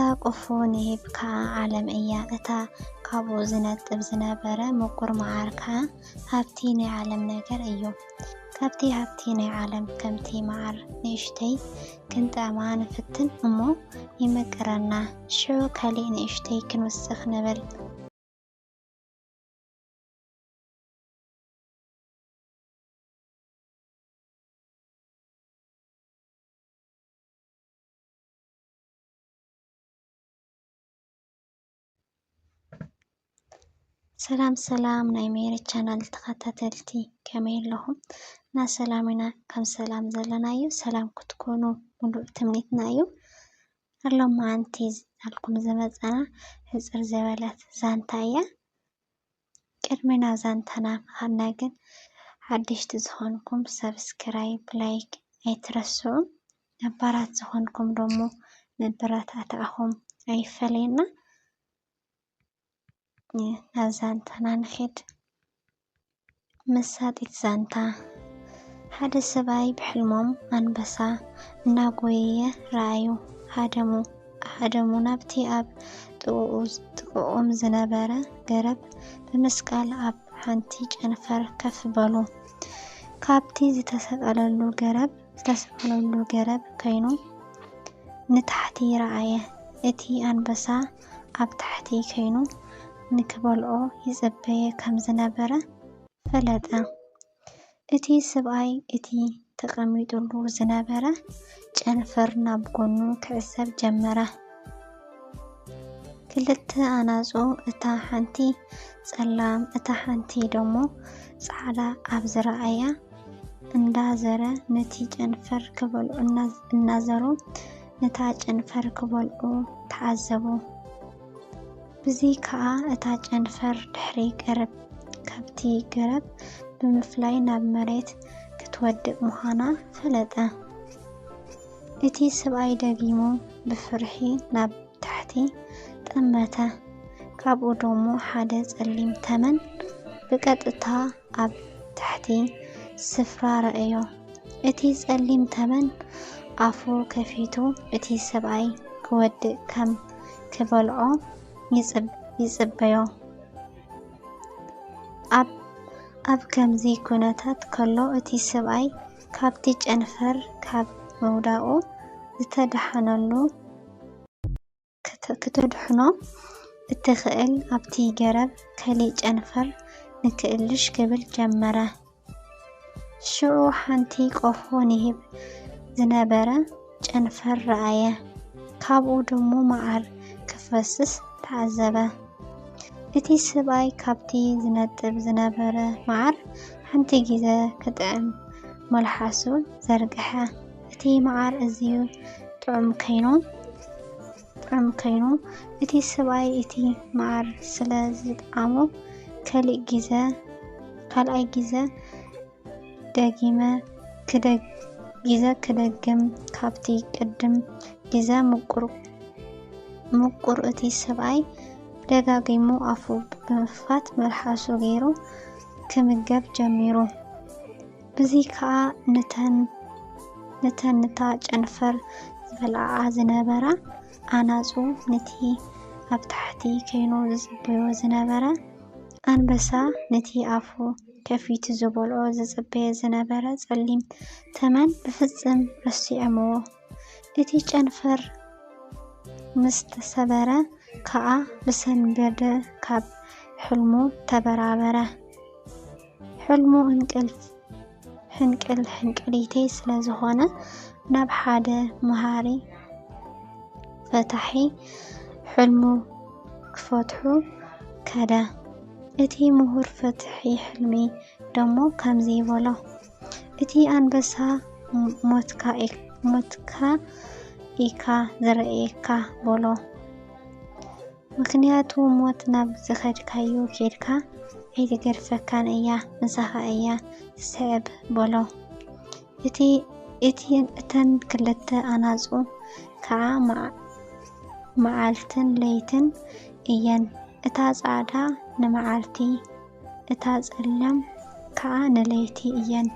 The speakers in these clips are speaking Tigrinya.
እታ ቁፉ ንሂብ ከኣ ዓለም እያ፣ እታ ካብኡ ዝነጥብ ዝነበረ ምቁር መዓር ከኣ ሃብቲ ናይ ዓለም ነገር እዩ። ካብቲ ሃብቲ ናይ ዓለም ከምቲ መዓር ንእሽተይ ክንጥዕማ ንፍትን እሞ ይምቅረና፣ ሽዑ ካሊእ ንእሽተይ ክንውስኽ ንብል። ሰላም ሰላም ናይ ሜሪ ቻናል ተኸታተልቲ ከመይ ኣለኹም? እና ሰላም ኢና ከም ሰላም ዘለና እዩ ሰላም ክትኮኑ ሙሉእ ትምኒትና እዩ። ኣሎ መዓንቲ ኣልኩም ዝመፀና ሕፅር ዘበለት ዛንታ እያ። ቅድሚ ናብ ዛንታና ምኻድና ግን ሓደሽቲ ዝኾንኩም ሳብስክራይብ ላይክ ኣይትረስዑ ነባራት ዝኾንኩም ደሞ መበረታትዕኹም ኣይፈለየና ናብ ዛንታና ንኺድ። መሳጢት ዛንታ ሓደ ሰብኣይ ብሕልሞም ኣንበሳ እናጎየየ ረኣዩ። ሃደሙ ሃደሙ ናብቲ ኣብ ጥቕኡ ጥቕኦም ዝነበረ ገረብ ብምስቃል ኣብ ሓንቲ ጨንፈር ከፍ በሉ። ካብቲ ዝተሰቀለሉ ገረብ ዝተሰቀለሉ ገረብ ከይኑ ንታሕቲ ረኣየ። እቲ ኣንበሳ ኣብ ታሕቲ ከይኑ ንክበልዖ ይጽበየ ከም ዝነበረ ፈለጠ። እቲ ስብኣይ እቲ ተቐሚጡሉ ዝነበረ ጨንፈር ናብ ጎኑ ክዕዘብ ጀመረ። ክልተ ኣናጹ እታ ሓንቲ ጸላም እታ ሓንቲ ደሞ ጻዕዳ ኣብ ዝረኣያ እንዳዘረ ነቲ ጨንፈር ክበልዑ እናዘሩ ነታ ጨንፈር ክበልዑ ተዓዘቡ። ብዚ ከኣ እታ ጨንፈር ድሕሪ ገረብ ካብቲ ገረብ ብምፍላይ ናብ መሬት ክትወድቅ ምዃና ፈለጠ። እቲ ሰብኣይ ደጊሙ ብፍርሒ ናብ ታሕቲ ጠመተ። ካብኡ ደሞ ሓደ ጸሊም ተመን ብቀጥታ ኣብ ታሕቲ ስፍራ ረኣዮ። እቲ ጸሊም ተመን ኣፉ ከፊቱ እቲ ሰብኣይ ክወድእ ከም ክበልዖ ይጽበዮ። ኣብ ከምዚ ኩነታት ከሎ እቲ ሰብኣይ ካብቲ ጨንፈር ካብ ምውዳቑ ዝተደሓነሉ፣ ክተድሕኖ እትኽእል ኣብቲ ገረብ ከሊእ ጨንፈር ንክእልሽ ክብል ጀመረ። ሽዑ ሓንቲ ቆፎ ንሂብ ዝነበረ ጨንፈር ረኣየ። ካብኡ ድሙ መዓር ክፈስስ ተዓዘበ። እቲ ስብኣይ ካብቲ ዝነጥብ ዝነበረ መዓር ሓንቲ ግዜ ክጥዕም መልሓሱ ዘርግሐ። እቲ መዓር እዝዩ ጥዑም ከይኑ ጥዑም ከይኑ እቲ ሰብኣይ እቲ መዓር ስለ ዝጠዓሞ ከሊእ ጊዘ ካልኣይ ጊዘ ደጊመ ክደግ ጊዘ ክደግም ካብቲ ቅድም ጊዘ ምቁር ምቁር እቲ ሰብኣይ ደጋጊሙ ኣፉ ብምክፋት መልሓሱ ገይሩ ክምገብ ጀሚሩ። እዚ ከኣ ነተን ነተን ነታ ጨንፈር ዝበልዓኣ ዝነበራ ኣናጹ ነቲ ኣብ ታሕቲ ከይኑ ዝጽበዮ ዝነበረ ኣንበሳ ነቲ ኣፉ ከፊቱ ዝበልዖ ዝጽበየ ዝነበረ ጸሊም ተመን ብፍጽም ረሲዖምዎ። እቲ ጨንፈር ምስ ተሰበረ ከኣ ብሰንበደ ካብ ሕልሙ ተበራበረ። ሕልሙ ሕንቅል ሕንቅሊተይ ስለ ዝኾነ ናብ ሓደ መሃሪ ፈታሒ ሕልሙ ክፈትሑ ከደ። እቲ ምሁር ፈትሒ ሕልሚ ደሞ ከምዚ በሎ። እቲ ኣንበሳ ሞትካ ኢካ ዝረእየካ በሎ። ምክንያቱ ሞት ናብ ዝኸድካዮ ኬድካ ኣይትገድፈካን እያ ምሳኻ እያ ትስዕብ በሎ። እተን ክልተ ኣናጹ ከዓ መዓልትን ለይትን እየን። እታ ጻዕዳ ንመዓልቲ፣ እታ ጸላም ከኣ ንለይቲ እየን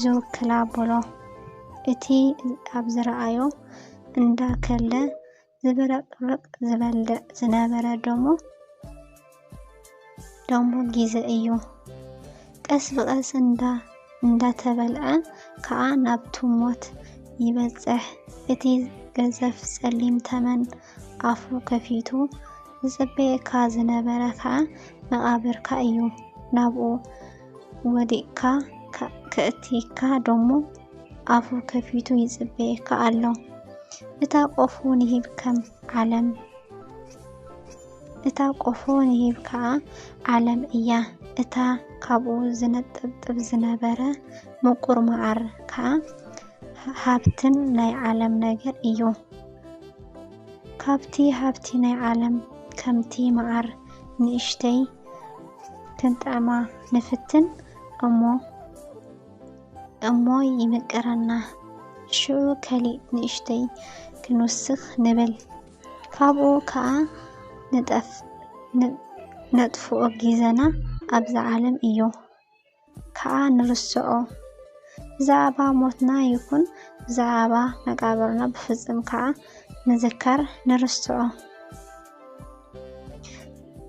ዝውክላ በሎ። እቲ ኣብ ዝረኣዮ እንዳ ከለ ዝብረቕርቕ ዝበልዕ ዝነበረ ደሞ ደሞ ጊዘ እዩ። ቀስ ብቐስ እንዳ እንዳተበልዐ ከኣ ናብቱ ሞት ይበጽሕ። እቲ ገዘፍ ጸሊም ተመን ኣፉ ከፊቱ ዝጽበየካ ዝነበረ ከኣ መቓብርካ እዩ። ናብኡ ወዲቕካ ከእትየካ ደሞ ኣፉ ከፊቱ ይጽበየካ ኣሎ። እታ ቆፎ ንሂብ ከም ዓለም እታ ቆፎ ንሂብ ከኣ ዓለም እያ። እታ ካብኡ ዝነጠብጥብ ዝነበረ ምቁር መዓር ከኣ ሃብትን ናይ ዓለም ነገር እዩ። ካብቲ ሃብቲ ናይ ዓለም ከምቲ መዓር ንእሽተይ ክንጥዕማ ንፍትን እሞ እሞ ይምቅረና ሽዑ ከሊእ ንእሽተይ ክንውስኽ ንብል ካብኡ ከኣ ንጠፍ ነጥፍኦ ጊዘና ኣብዛ ዓለም እዩ። ከኣ ንርስዖ። ብዛዕባ ሞትና ይኹን ብዛዕባ መቃብርና ብፍጹም ከኣ ምዝካር ንርስዖ።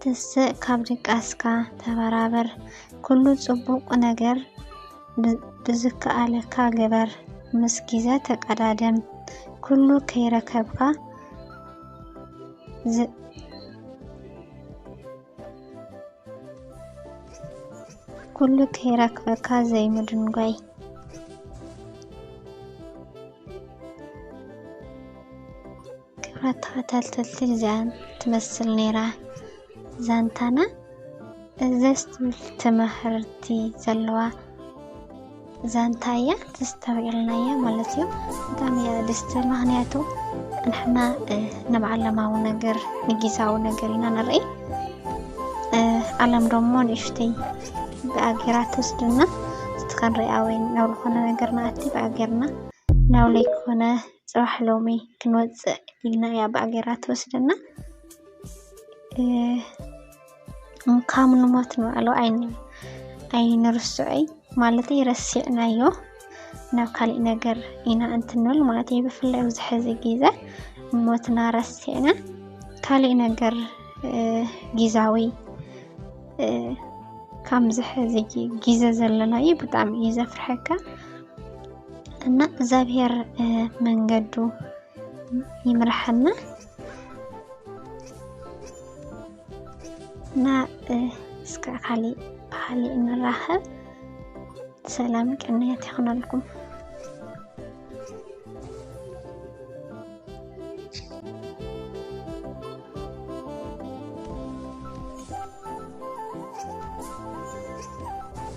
ትስእ ካብ ድቃስካ ተበራበር፣ ኩሉ ጽቡቕ ነገር ብዝከኣለካ ግበር፣ ምስ ግዜ ተቀዳደም፣ ኩሉ ከይረከብካ ኩሉ ከይረክበካ ዘይምድንጓይ ክብራት ተኸታተልቲ እዚኣን ትመስል ነይራ ዛንታና እዘስ ትምህርቲ ዘለዋ ዛንታ እያ ተስተውዒልናያ ማለት እዩ ብጣዕሚ እያ ደስ ትብል ምክንያቱ ንሕና ንብዓለማዊ ነገር ንጊዛዊ ነገር ኢና ንርኢ ዓለም ደሞ ንእሽተይ ብኣጌራ ትወስድና እቲ ክንሪኣ ወይ ናብ ዝኾነ ነገር ንኣቲ ብኣጌርና ናብ ለይኮነ ፅባሕ ሎሚ ክንወፅእ ኢልና እያ ብኣጌራ ትወስደና ካብ ንሞት ንባዕሉ ኣይንርስዖይ ማለተይ ረሲዕናዮ ናብ ካሊእ ነገር ኢና እንትንብል ማለት እዩ። ብፍላይ ኣብዚ ሕዚ ግዘ ሞትና ረሲዕና ካሊእ ነገር ግዛዊ ከምዚ ሕዚ ግዘ ዘለናዩ ብጣዕሚ እዩ ዘፍርሐካ እና እግዚኣብሔር መንገዱ ይምርሐና። እና እስከ ካሊእ ብካሊእ ንራኸብ ሰላም ቅንያት ይኹነልኩም